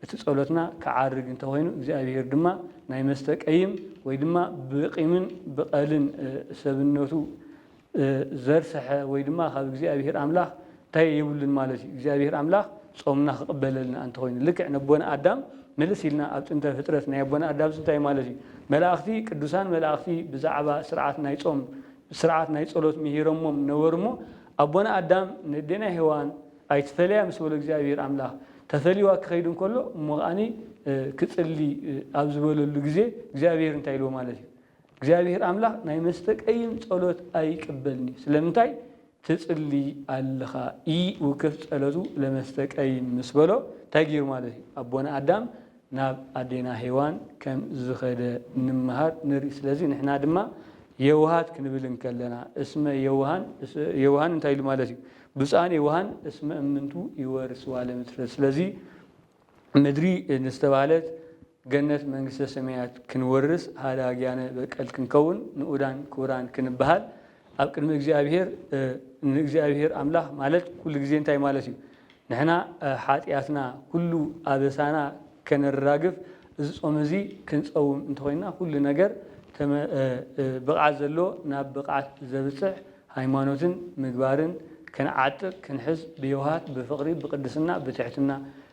እቲ ጸሎትና ክዓርግ እንተኾይኑ እግዚኣብሄር ድማ ናይ መስተ ቀይም ወይ ድማ ብቂምን ብቐልን ሰብነቱ ዘርሰሐ ወይ ድማ ካብ እግዚኣብሔር ኣምላክ እንታይ የብሉን ማለት እዩ እግዚኣብሔር ኣምላክ ጾምና ክቅበለልና ኣንተኮይኑ ልክዕ ነቦና ኣዳም ምልስ ኢልና ኣብ ጥንተ ፍጥረት ናይ ኣቦና ኣዳምስ እንታይ ማለት እዩ መላእክቲ ቅዱሳን መላእክቲ ብዛዕባ ስርዓት ናይ ጾም ስርዓት ናይ ጸሎት ምሂሮሞም ነበሩ እሞ ኣቦና ኣዳም ነዴና ሄዋን ኣይትፈለያ ምስ በሎ እግዚኣብሔር ኣምላክ ተፈልይዋ ክኸይድ እንከሎ እሞ ከዓኒ ክጽሊ ኣብ ዝበለሉ ግዜ እግዚኣብሔር እንታይ ኢልዎ ማለት እዩ እግዚኣብሄር ኣምላኽ ናይ መስተቀይም ጸሎት ኣይቅበልን እዩ ስለምንታይ ትጽሊ ኣለኻ ኢውክፍ ጸለቱ ለመስተቀይም ምስ በሎ እንታይ ጌሩ ማለት እዩ ኣቦና ኣዳም ናብ ኣዴና ሄዋን ከም ዝኸደ ንመሃር ንርኢ ስለዚ ንሕና ድማ የውሃት ክንብል እንከለና እስመ የውሃን የውሃን እንታይ ኢሉ ማለት እዩ ብፁዓን የውሃን እስመ እምንቱ ይወርስዋ ለምድር ስለዚ ምድሪ ንዝተባህለት ገነት መንግስተ ሰማያት ክንወርስ ሃዳግያነ በቀል ክንከውን ንኡዳን ክቡራን ክንበሃል ኣብ ቅድሚ እግዚኣብሄር ንእግዚኣብሄር ኣምላኽ ማለት ኩሉ ግዜ እንታይ ማለት እዩ ንሕና ሓጥያትና ኩሉ ኣበሳና ከነራግፍ እዚ ጾም እዚ ክንጸውም እንተኾይንና ኩሉ ነገር ተመ ብቕዓት ዘለዎ ናብ ብቕዓት ዘብጽሕ ሃይማኖትን ምግባርን ክንዓጥቅ ክንሕዝ ብየውሃት ብፍቕሪ ብቅድስና ብትሕትና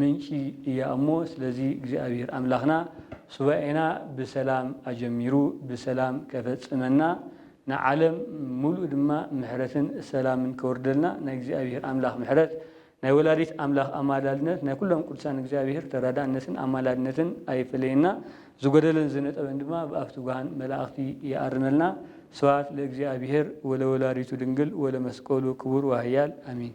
ምንጪ እያ እሞ ስለዚ እግዚኣብሔር ኣምላኽና ሱባኤና ብሰላም ኣጀሚሩ ብሰላም ከፈጽመና ንዓለም ሙሉእ ድማ ምሕረትን ሰላምን ከውርደልና ናይ እግዚኣብሔር ኣምላኽ ምሕረት ናይ ወላዲት ኣምላኽ ኣማላድነት ናይ ኩሎም ቅዱሳን እግዚኣብሔር ተራዳእነትን ኣማላድነትን ኣይፈለየና ዝጎደለን ዝነጠበን ድማ ብኣፍ ትጉሃን መላእኽቲ ይኣርመልና ስብሃት ለእግዚኣብሔር ወለወላዲቱ ድንግል ወለመስቀሉ ክቡር ወሃያል ኣሜን።